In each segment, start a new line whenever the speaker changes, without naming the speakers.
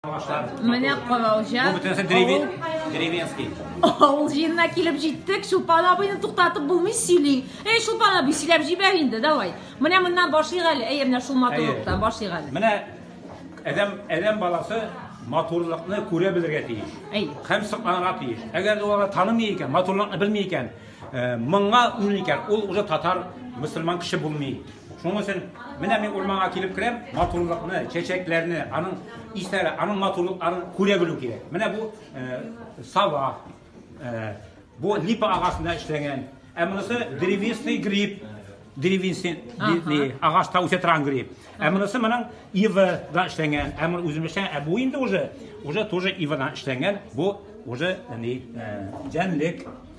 Менә
Калаужа. Бу бөтенесе
деревень, деревенский. Авыл
җиренә килеп җиттек. Чулпан абыйны туктатып булмый сөйли. Эй, Чулпан абый, сөйләп җибәр инде, давай. Менә моннан башлыйк әле. Әйе, менә шул матурлыктан башлыйк әле. Менә
әдәм, әдәм баласы матурлыкны күрә белергә тиеш. Әй. Һәм сокланырга тиеш. Әгәр дә ул таными икән, матурлыкны белми икән, Моңа үл икән, ул уже татар, мөселман кеше булмый. Шуның өчен менә мин урманга килеп керәм, матурлыкны, чәчәкләрне, аның исләре, аның матурлыкларын күрә белү кирәк. Менә бу э, сава, э, бу липа агасында эшләнгән. Ә монысы древесный гриб, древесный агачта үсә торган гриб. Ә монысы моның ивадан эшләнгән. Ә моны үзем эшләгән, ә бу инде уже уже тоже ивадан эшләнгән. Бу уже ни э, җәнлек.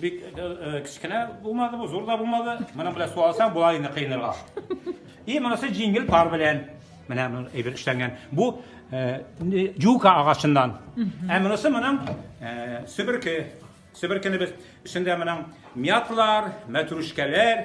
Бик кечкенә булмады бу, зур да булмады. Моның белән су алсаң, була инде кыйнырга. И монысы җиңел пар белән. Менә бу әйбер эшләнгән. Бу юка агачыннан. Ә монысы моның себерке. Себеркене без эчендә моның мяталар, мәтрүшкәләр,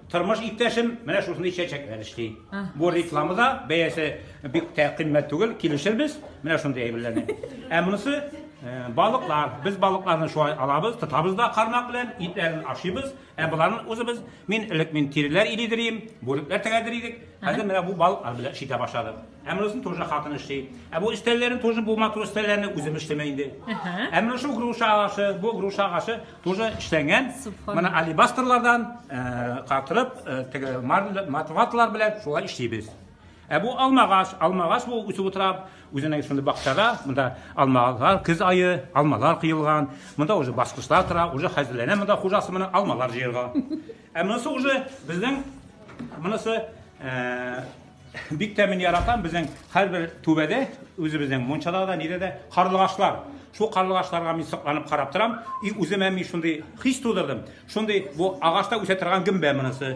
Тормыш иптәшем менә шушындый чәчәкләр эшли. Бу реклама да, бәясе бик тә кыйммәт түгел, килешербез. Менә шундый әйберләрне. Ә монысы э, балыклар. Без балыкларны шулай алабыз, тотабыз да кармак белән, итләрен ашыйбыз. Ә боларны үзебез мин элек мин тиреләр илидер идем, бүрекләр тегәдер идек. Хәзер менә бу балыклар белән эшли башладым. Ә монысын тоже хатын эшли. Ә бу өстәлләрен тоже бу матур өстәлләрне үзем эшләмә инде. Ә менә шу груша агачы, бу груша агачы, Тоже эшләнгән. Менә алибастрлардан катырып, теге матватлар белән шулай эшлибез. Ә бу алмагач, алмагач бу үсеп утыра, үзенең шундый бакчада, монда алмалар, көз айы, алмалар кыелган, монда уже баскычлар тора, уже хәзерләнә монда хуҗасы менә алмалар җыярга. Ә монысы уже безнең монысы Бик тә мин яратам безнең һәрбер түбәдә, үзебезнең мунчада да, нидә дә карлыгачлар. Шул карлыгачларга мин сокланып карап торам. И үземә мин шундый хис тудырдым. Шундый бу агачта үсә торган гөмбә монысы.